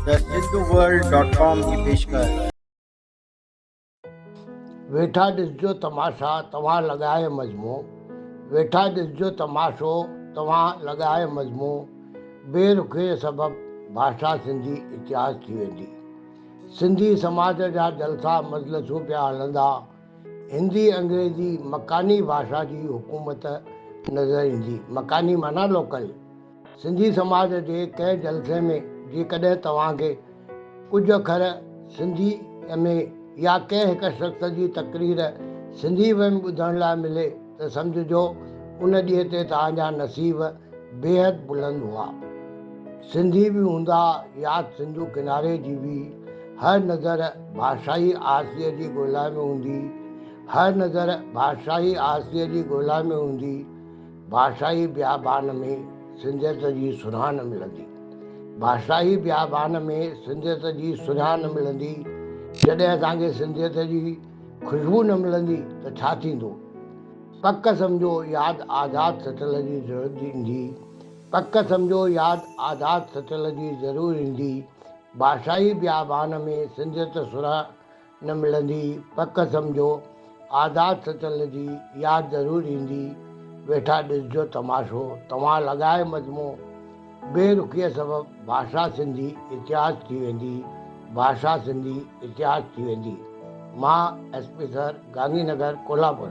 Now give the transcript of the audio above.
thehinduworld. com جي پيشڪش. ويٺا ڏسجو تماشا توهان لڳائي مزمو ويٺا ڏسجو تماشو توهان لڳائي مزمو بي رخيء سبب ڀاشا سنڌي اتهاس ٿي ويندي سنڌي سماج جا جلسا مجلسون پيا هلندا هندي انگريزي مڪاني ڀاشا جي حڪومت نظر ايندي مڪاني معنيٰ لوڪل سنڌي سماج جي ڪنهن جلسي ۾ جيڪڏهن توهان کي ڪجهه اکر سنڌي ۾ يا ڪنهن هڪ شخص جي تقرير سنڌي ۾ ٻڌڻ لاء ملي ته سمجهجو ان ڏينهن تي توهان جا نصيب بيحد بلند هئا. سنڌي به هوندا ياد سنڌو ڪناري جي به هر نظر ڀاشائي آسيء جي ڳولا ۾ هوندي هر نظر ڀاشائي آسيء جي ڳولا ۾ هوندي. بادشاهي بيابان ۾ سنڌيت جي سونهان نه ملندي. بادشاهي بيابان ۾ سنڌيت جي سونهان نه ملندي، جڏهن اسان کي سنڌيت جي خوشبو نه ملندي ته ڇا ٿيندو؟ پڪ سمجهو ياد آزاد سٽل جي ضرور ايندي، پڪ سمجهو ياد آزاد سٽل جي ضرور ايندي، بادشاهي بيابان ۾ سنڌيت سونهان نه ملندي پڪ سمجهو آزاد سچل جي ياد ضرور ايندي ويٺا ڏسجو تماشو توهان لڳائي مجمو بي رخيء سبب ڀاشا سنڌي اتهاس ٿي ويندي ڀاشا سنڌي اتهاس ٿي ويندي مان S P sir Gandhinagar Kolhapur.